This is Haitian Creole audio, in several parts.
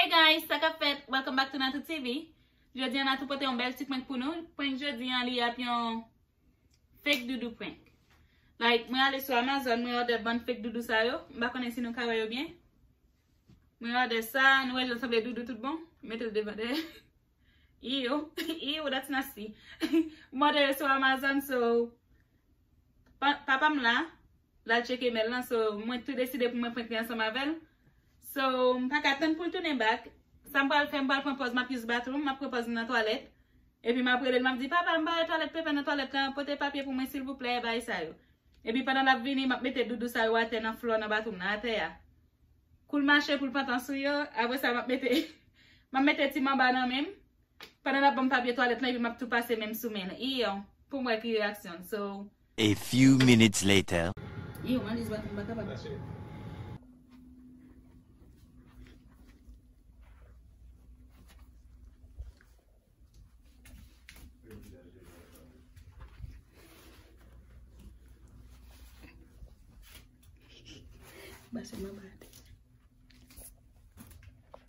Hey guys sa kap fèt welcome back to Natou TV Jodi an Natou pote yon bèl ti prank pou nou Prank jodi an li ap yon Fake doudou prank Like mwen ale sou Amazon mwen order bann fake doudou sa yo M pa konnen si nou ka wè yo byen Mwen order sa Nou wè jan l sanble doudou tout bon M mete l devan dèyè Eww eww that's nasty M òdè yo sou Amazon so Papa m la L al tcheke mail lan so mwen tou deside pou mwen prank li ansanm avè l So m pa ka tann pou l tounen back Sa m pral fè m pral pran pòz m ap use bathroom M ap pran pòz m nan twalèt Epi m ap rele l m ap di Papa m bare twalèt paper nan twalèt lan Pote papye pou mwen silvouplè Bagay sa yo Epi pandan l ap vini m ap mete doudou sa yo atè nan floor nan bathroom nan atè a. Koul mache poul pantan sou yo apre sa map mete map mete ti manba nan menm pandan lap banm papye twalèt lan epi map tou pase menm sou menl iiw poum wè ki reaksyonl so. A few minutes later. Iiw Malice bat mwen mpa kapab.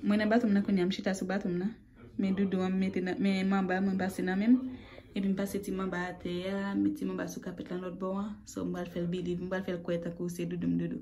Mwen nan baton nan kounye a, m chita sou baton nan. Men doudou an m mete nan, men manba mwen pase nan menm. Epi m pase ti manba atè a, m met ti manba sou kapèt lan lòt bò an. So m pral fè l biliv, m pral fè l kwè tankou se doudou m doudou.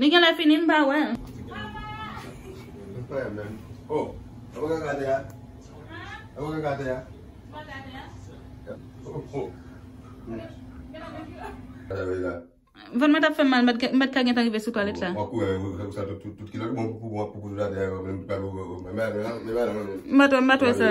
Li genlè fini m pa wèl. Vant mwen tap fèm mal m pat ka gentan rive sou twalèt la. M pat wè sa.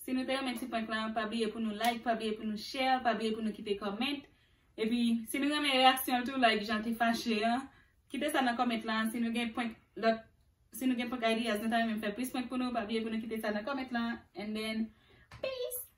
Si nou te yon men ti prank lan, pa bliye pou nou like, pa bliye pou nou share, pa bliye pou nou kite comment. E pi, si nou yon men reaksyon tou, like jan te fache an, kite sa nan comment lan. Si nou gen prank lot, si nou gen prank ideas, nou ta renmen fè plis prank pou nou, pa bliye pou nou kite sa nan comment lan. And then, peace!